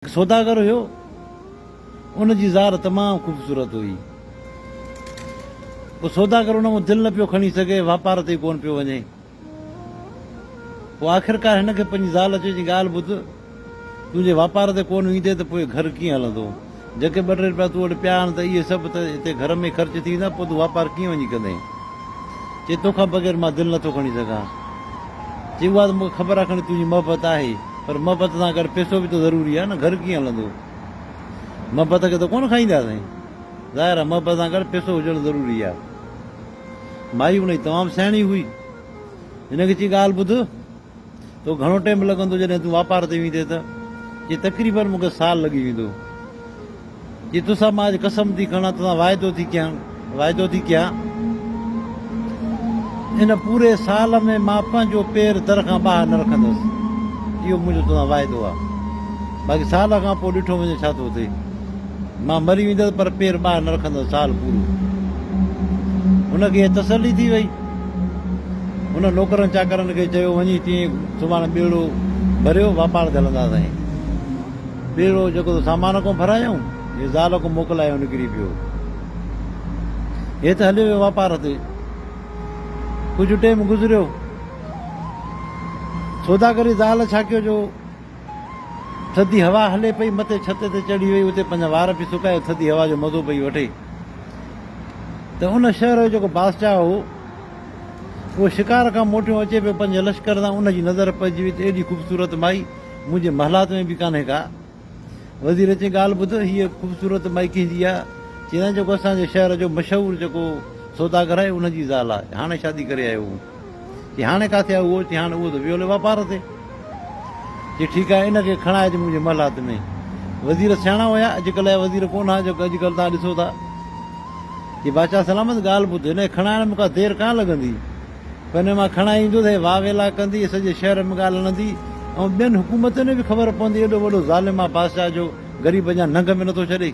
سوداگر هيو. ان جي زار تمام خوبصورت هئي. پوء سوداگر ان مان دل نه پيو کڻي سگهي، واپار تي ئي ڪونه پيو وڃي. پوء آخرڪار هن کي پنهنجي زال چيو چيائين ڳالهه ٻڌ، تون جي واپار تي ڪونه ايندين ته پوء گهر ڪيئن هلندو؟ جيڪي ٻه ٽي رپيا تون وٽ پيا آهن ته اهي سڀ ته هتي گهر ۾ ئي خرچ ٿي ويندا، پوء تون واپار ڪيئن وڃي ڪندين؟ چي تو کان بغير مان دل نٿو کڻي سگهان. چي اها ته مون کي خبر آهي کڻي تنهنجي محبت آهي پر محبت سان گڏ پيسو به ته ضروري آهي نه گهر ڪيئن هلندو. محبت کي ته ڪونه کائيندا سائين. ظاهر آهي محبت سان گڏ پيسو هجڻ ضروري آهي. مائي ان جي تمام سياڻي هئي. هن کي چي ڳالهه ٻڌ. تو گهڻو ٽيم لڳندو جڏهن تون واپار تي ويندين ته؟ چي تقريبن مون کي سال لڳي ويندو. چي توسان مان اڄ قسم ٿي کڻان توسان واعدو ٿي ڪيان واعدو ٿي ڪيان ان پوري سال ۾ مان پنهنجو پير در کان ٻاهر نه رکندس اهو منهنجو توسان واعدو آ باقي سال کان پوء ڏٺو وڃي ڇا ٿو ٿئي مان مري ويندس پر پير ٻاهر نه رکندس سال پورو هن کي تسلي ٿي وئي هن نوڪرن چاڪرن کي چيو، وڃي تيئن سڀاڻي ٻيڙو ڀريو، واپار تي هلنداسين. ٻيڙو جيڪو ته سامان ڪونه ڀرايائون، هي زال ڪونه موڪلايو نڪري پيو. هي ته هليو ويو واپار تي. ڪجهه ٽيم گذريو. سوداگري زال ڇا ڪيو جو ٿڌي هوا هلي پئي، متي ڇت تي چڙهي وئي، اتي پنهنجا وار پئي سڪائي، ٿڌي هوا جو مزو پئي وٺي ته ان شهر جو جيڪو بادشاهه هو، اهو شڪار کان موٽيو اچي پيو، پنهنجي لشڪر سان ان جي نظر پئجي وئي ته ايڏي خوبصورت مائي منهنجي محلات ۾ به ڪانهي ڪا. وزير چيائين، ڳالهه ٻڌ، هيء خوبصورت مائي ڪنهن جي آهي؟ چيائين، جيڪو اسان جي شهر جو مشهور جيڪو سوداگر آهي، ان جي زال آهي، هاڻي شادي ڪري آيو هون. چي هاڻي ڪاٿي آئو اهو؟ چي هاڻي اهو ته ويو هلي واپار تي. چي ٺيڪ آهي ان کي کڻائج منهنجي محلات ۾. وزير سياڻا هيا اڄڪلهه جا وزير ڪونه ها جو اڄڪلهه توهان ڏسو ٿا. چي بادشاهه سلامت ڳالهه ٻڌ هن کي کڻائڻ ۾ ڪا دير ڪانه لڳندي. پر هن مان کڻائي ايندو ته هي واء ويلا ڪندي سڄي شهر ۾ ڳالهه هڻندي ۽ ٻين حڪومتن ۾ به خبر پوندي ايڏو وڏو ظالم آهي بادشاهه جو غريب اڃا ننگ ۾ نٿو ڇڏي.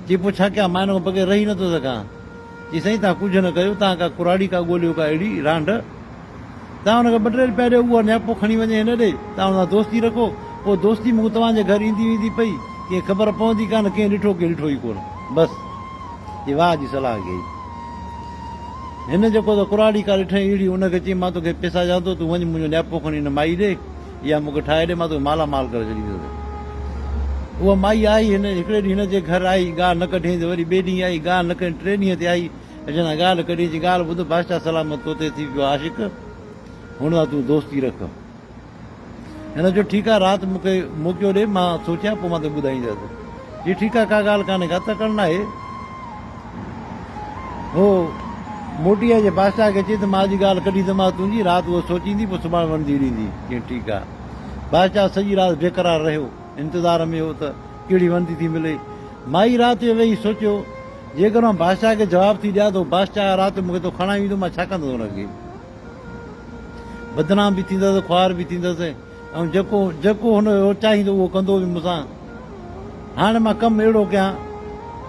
چي پوء ڇا ڪيان مان هن کان بغير رهي نٿو سگهان. چي سائين تان ڪجهه نه ڪيو تان ڪا ڪراڙي ڪا ڳوليو ڪا اهڙي رانڍ تان ان کي ٻه ٽي روپيا ڏيو اهو نياپو کڻي وڃي هن ڏي تان ان سان دوستي رکو پوء دوستي مون کي توهان جي گهر ايندي ويندي پئي ڪنهن خبر پوندي ڪانه ڪنهن ڏٺو ڪنهن ڏٺو ئي ڪونه بس چي واهه جي صلاح گهي هن جيڪو ته ڪراڙي ڪا ڏٺئي اهڙي ان کي چي مان توکي پيسا ڏيان ٿو تون وڃ منهنجو نياپو کڻي هن مائي ڏي اها مون کي ٺاهي ڏي، مان توکي مالا مال ڪري ڇڏينديسين. اها مائي آئي، هڪڙي ڏينهن هن جي گهر آئي، ڳالهه نه ڪڍيائين ته وري ٻئي ڏينهن آئي، ڳالهه نه ڪڍيائين، ٽئين ڏينهن تي آئي، اچڻ سان ڳالهه ڪڍيائين، چيائين، ڳالهه ٻڌ، بادشاهه سلامت تو تي ٿي پيو عاشق، هن سان تون دوستي رک. هن چيو، ٺيڪ آهي، رات مون کي موقعو ڏي، مان سوچيان، پوء مان توکي ٻڌائيندس. جي ٺيڪ آهي ڪا ڳالهه ڪانهي ڪا تڪڙ ناهي. هو موٽي آئي جي بادشاهه کي چئي ته مان اڄ ڳالهه ڪڍي دماغ تنهنجي رات اهو سوچيندي پوء سڀاڻ وڻندي ڏيندي. چيائين ٺيڪ آهي. بادشاهه سڄي رات بيقرار رهيو انتظار ۾ هو ته ڪهڙي وڻندي ٿي ملي. مائي رات جو ويهي سوچيو جيڪر مان بادشاهه کي جواب ٿي ڏيان ته هو بادشاهه رات جو مون کي اتو کڻائي ويندو مان ڇا ڪندس هن کي. بدنام به ٿيندس خوار به ٿيندس. ۽ جيڪو جيڪو هن اهو چاهيندو اهو ڪندو به مون سان. هاڻي مان ڪم اهڙو ڪيان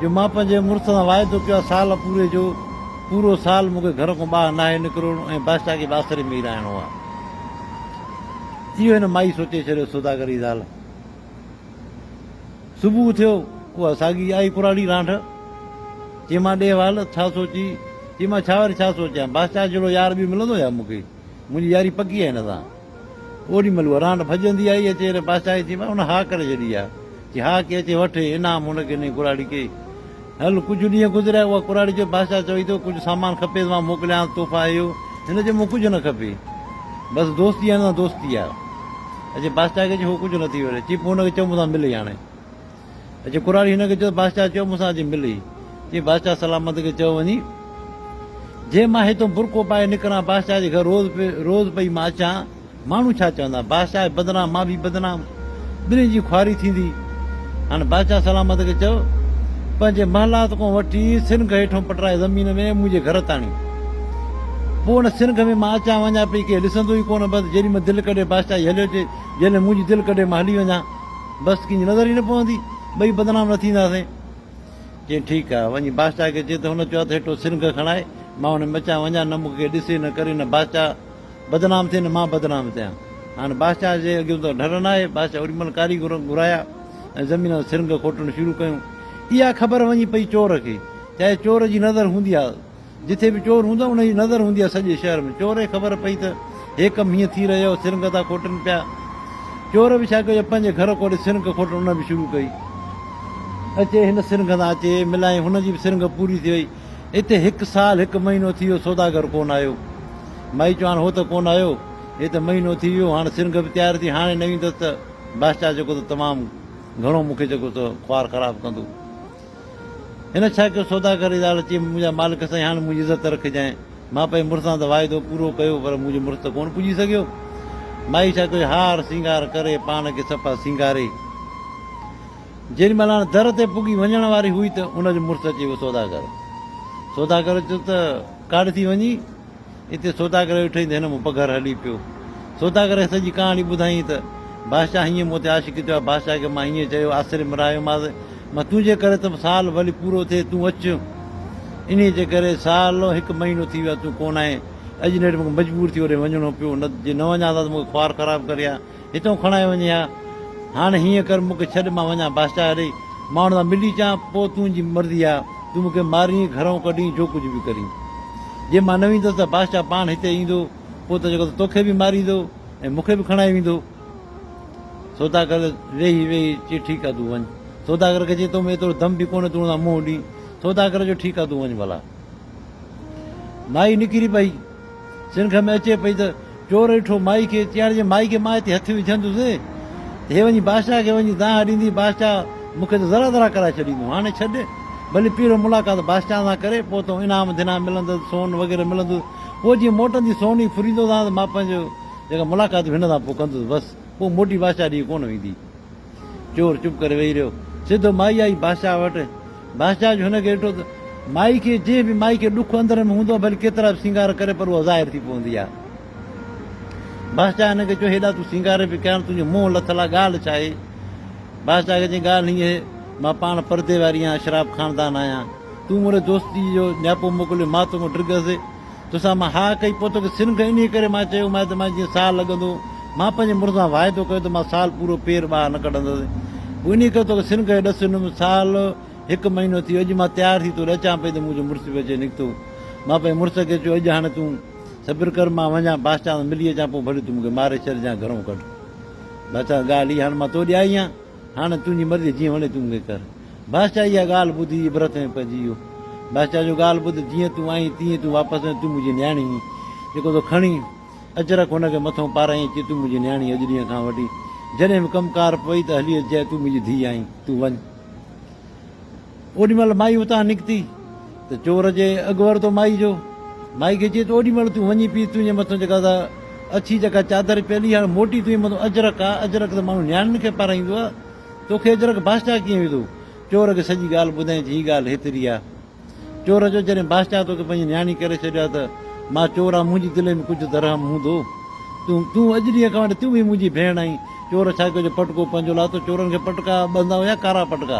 جو مان پنهنجي مڙس سان واعدو ڪيو آهي سال پوري جو پورو سال مون کي گهر کان ٻاهر ناهي نڪرڻو ۽ بادشاهه کي به آسري ۾ ئي رهائڻو آهي. اهو هن مائي سوچي ڇڏيو سوداگر جي زال. صبح ٿيو اها ساڳي آئي پراڻي رانڍ. چيمان ڏي حوال ڇا سوچي؟ چيمان ڇا وري ڇا سوچيان بادشاهه جهڙو يار ٻيو ملندو ڇا مون کي؟ منهنجي ياري پڪي آهي هن سان. اوڏي مھل ورھاڻ ڀڄندي آئي اچي ھن پاسائي ٿي مان ان ھا ڪري ڇڏي آ جي ھا ڪي اچي وٺ ھي انعام ھن کي نئين ڪراڙي ڪي ھل ڪجھ ڏينھن گذريا اھا ڪراڙي چيو بادشاھ چوئي ٿو ڪجھ سامان کپي ته مان موڪليانس تحفا اھو ھن چيو مون ڪجھ نه کپي بس دوستي آ ھن سان دوستي آ اچي بادشاھ کي چي ھو ڪجھ نه ٿي وري چي پوء ھن کي چئو مون سان ملي ھاڻي اچي ڪراڙي هن کي چيو ته بادشاهه چيو مون سان اچي مل هي. چيائين بادشاهه سلامت کي چيو وڃي جي مان هتئون برقعو پائي نڪران بادشاهه جي گهر روز روز پئي مان اچان ماڻهو ڇا چوندا بادشاهه جي بدنام مان به بدنام ٻنهي جي خواري ٿيندي هاڻي بادشاهه سلامت کي چيو پنهنجي محلات کان وٺي سنگ هيٺون پٽرائي زمين ۾ منهنجي گهر تاڻي پوء ان سنگ ۾ مان اچان وڃان پئي ڪير ڏسندو ئي ڪونه بس جيڏي مهل دل ڪڍي بادشاهه جي هليو اچي جيڏي مهل منهنجي دل ڪڍي مان هلي وڃان بس ڪنهن جي نظر ئي نه پوندي، ٻئي بدنام نه ٿينداسين. چيائين ٺيڪ آهي، وڃي بادشاهه کي چئه ته هن چئو اٿ هيٺو سرنگهه ڪڻائي، مان هن ۾ اچان وڃان، نه مون کي ڪير ڏسي نه ڪري، نه بادشاهه بدنام ٿئي نه مان بدنام ٿيان. هاڻ بادشاهه جي اڳيون ته ڍر ناهي، بادشاهه اوري مهل ڪاريگر گهرايا ۽ زمين مان سرنگهه کوٽڻ شروع ڪيون. اها خبر وڃي پئي چور کي، چاهي چور جي نظر هوندي ها، جتي به چور هوندو آهي ان جي نظر هوندي آهي سڄي شهر ۾، چور کي خبر پئي ته هي ڪم هيئن ٿي رهيو آهي، سرنگهه ٿا کوٽن پيا. چور به ڇا ڪيو جو پنهنجي گهر کوٽي سرنگهه کوٽڻ ان به شروع ڪئي. اچي هن سرنگهه سان اچي ملائين، هن جي به سرنگهه پوري ٿي وئي. اتي هڪ سال هڪ مهينو ٿي ويو سوداگر ڪونه آيو. مائي چيو هاڻ هو ته ڪونه آيو، هي ته مهينو ٿي ويو، هاڻ سرنگهه به تيار ٿي، هاڻي نه ايندس ته بادشاهه جيڪو ته تمام گهڻو مون کي جيڪو سو خوار خراب ڪندو. هن ڇا ڪيو؟ سوداگر جي زال چيم، منهنجا مالڪ سائين هاڻ منهنجي عزت رکجانء. مان پنهنجي مڙس سان ته واعدو پورو ڪيو پر منهنجو مڙس ته ڪونه پڄي سگهيو. مائي ڇا ڪيو؟ هار سينگار ڪري پاڻ کي صفا سينگاري جيڏي مهل هاڻ در تي پڳي وڃڻ واري هئي ته ان جو مڙس اچي ويو. سوداگر سوداگر چيو ته ڪاڏ ٿي وڃين؟ اتي سوداگر ويٺو ته هن مون پگهر هلي پيو. سوداگر کي سڄي ڪهاڻي ٻڌائين ته، بادشاهه هينئن مون تي عاشقي ٿيو آهي. بادشاهه کي مان هينئن چيو، آسري ۾ رهايومانس. مان تنهنجي ڪري ته سال ڀلي پورو ٿئي، تون اچ. انهيء جي ڪري سال و هڪ مهينو ٿي ويو آهي، تون ڪونه آئين. اڄ نيٺ مون کي مجبور ٿي اوڏي وڃڻو پيو، نه ته جي نه وڃان ها ته مون کي خوار خراب ڪري ها. هتئون کڻائي وڃي ها. هاڻ هيئن ڪر مون کي ڇڏ مان وڃان بادشاهه اڙي ماڻهن سان ملي اچان پوء تنهنجي مرضي آ تون مون کي مارين گهرئون ڪڍين جو ڪجهه به ڪرين. جي مان نه ويندس ته بادشاهه پاڻ هتي ايندو پوء ته جيڪو ته توکي به ماريندو ۽ مون کي به کڻائي ويندو. سوداگر ويهي ويهي چي ٺيڪ آ تون وڃ. سوداگر کي چي تو ۾ ايترو دم به ڪونهي تون ان سان منهن ڏين. سوداگر چيو ٺيڪ آ تون وڃ ڀلا. مائي نڪري پئي. سرنگهه ۾ اچي پئي ته چور ڏٺو مائي کي، چيائين جي مائي کي مان هتي هٿ وجهندس، هي وڃي بادشاهه کي وڃي دانهن ڏيندي، بادشاهه مون کي ته ذرا ذرا ڪرائي ڇڏيندو، هاڻي ڇڏ، ڀلي پيرو ملاقات بادشاهه سان ڪري، پوء تون انعام ڌنان ملندس، سون وغيره ملندس، پوء جيئن موٽندي سون ئي ڦريندو سانس، مان پنهنجو جيڪا ملاقات به هن سان پوء ڪندس، بس، پوء موٽي بادشاهه ڏي ڪونه ويندي. چور چپ ڪري ويهي رهيو. سڌو مائي آئي بادشاهه وٽ. بادشاهه جو هن کي ڏٺو ته مائي کي جنهن به مائي کي ڏک اندر ۾ هوندو آهي ڀلي ڪيترا به سينگار ڪري پر اها ظاهر ٿي پوندي آهي. بادشاهه هن کي چيو هيڏا تون سينگار پئي ڪيان تنهنجو منهن لٿل آهي ڳالهه ڇا آهي؟ بادشاهه کي چيائين ڳالهه هيء آهي مان پاڻ پردي واري آهيان اشراف خاندان آهيان تون مون ڏي دوستي جو نياپو موڪليو مان تون کان ڊگهس. توسان مان ها ڪئي، پوء توکي سنگهه انهيء ڪري مان چيو مانء ته مان جيئن سال لڳندو، مان پنهنجي مڙس سان واعدو ڪيو ته مان سال پورو پير ٻاهر نه ڪڍندس، پوء انهيء ڪري توکي سنگهه هيڏس سنم سال هڪ مهينو ٿي ويو، اڄ مان تيار ٿي توڏي اچان پئي ته منهنجو مڙس به اچي نڪتو. مان پنهنجي مڙس کي چيو اڄ هاڻي تون صبر ڪر، مان وڃان بادشاهه سان ملي اچان، پوء ڀلي تون مون کي ماري ڇڏ يا گهرئون ڪڍ، بادشاهه ڳالهه هي هاڻي مان توڏي آئي آهيان. هاڻ تنهنجي مرضي جيئن وڻي تون ائين ڪر. بادشاهه اها ڳالهه ٻڌي عبرت ۾ پئجي ويو. بادشاهه جو ڳالهه ٻڌ جيئن تون آئين تيئن ئي تون واپس وڃ تون منهنجي نياڻي هين. جيڪو تو کڻي اچ رک هن کي مٿو پارائين ۽ چئي تون منهنجي نياڻي اڄ ڏينهن کان وٺي جڏهن به ڪم ڪار پوي ته هلي اچجانء تون منهنجي ڌيء آهين تون وڃ. اوڏي مھل مائي اتان نڪتي ته چور اچي اڳ ورتو مائي جو. مائي کي چيس ته اوڏي مھل تون وڃي پيس تنھنجي مٿان جيڪا سا اڇي جيڪا چادر پيل ھئي ھاڻي موٽي تنھنجي مٿان اجرڪ آ، اجرڪ ته ماڻھو نياڻين کي پارائيندو آ، توکي اجرڪ بادشاھه ڪيئن وڌو؟ چور کي سڄي ڳالھه ٻڌائين چي ھي ڳالھه ھيتري آ. چور چيو جڏھن بادشاھه توکي پنھنجي نياڻي ڪري ڇڏيو آ ته مان چور آھان منھنجي دل ۾ ڪجھه ته رحم ھوندو. تون تون اڄ ڏينھن کان وٺي تون به ھي منھنجي ڀيڻ آھين. چور ڇا ڪيو جو پٽڪو پنھنجو لاتو چورن کي پٽڪا ٻڌندا ھيا ڪارا پٽڪا.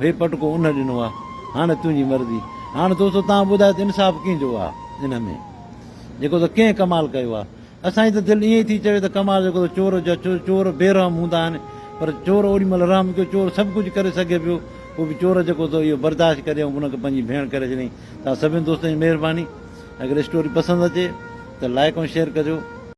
هي پٽڪو ان ڏنو آ هاڻ تنهنجي مرضي. هاڻ دوستو توهان ٻڌايو ته انصاف ڪنهن جو آ ان ۾ جيڪو ته ڪنهن ڪمال ڪيو آ. اسان جي ته دل ائين ئي ٿي چوي ته ڪمال جيڪو ته چور جو آ ڇو جو چور بي رحم هوندا آهن پر چور اوڏي مهل رحم ڪيو چور سڀ ڪجهه ڪري سگهي پيو پوء به چور جيڪو ته اهو برداشت ڪري ۽ ان کي پنهنجي ڀيڻ ڪري ڇڏيائين توهان سڀني دوستن جي مهرباني اگر اسٽوري پسند اچي ته لائيڪ ۽ شيئر ڪجو.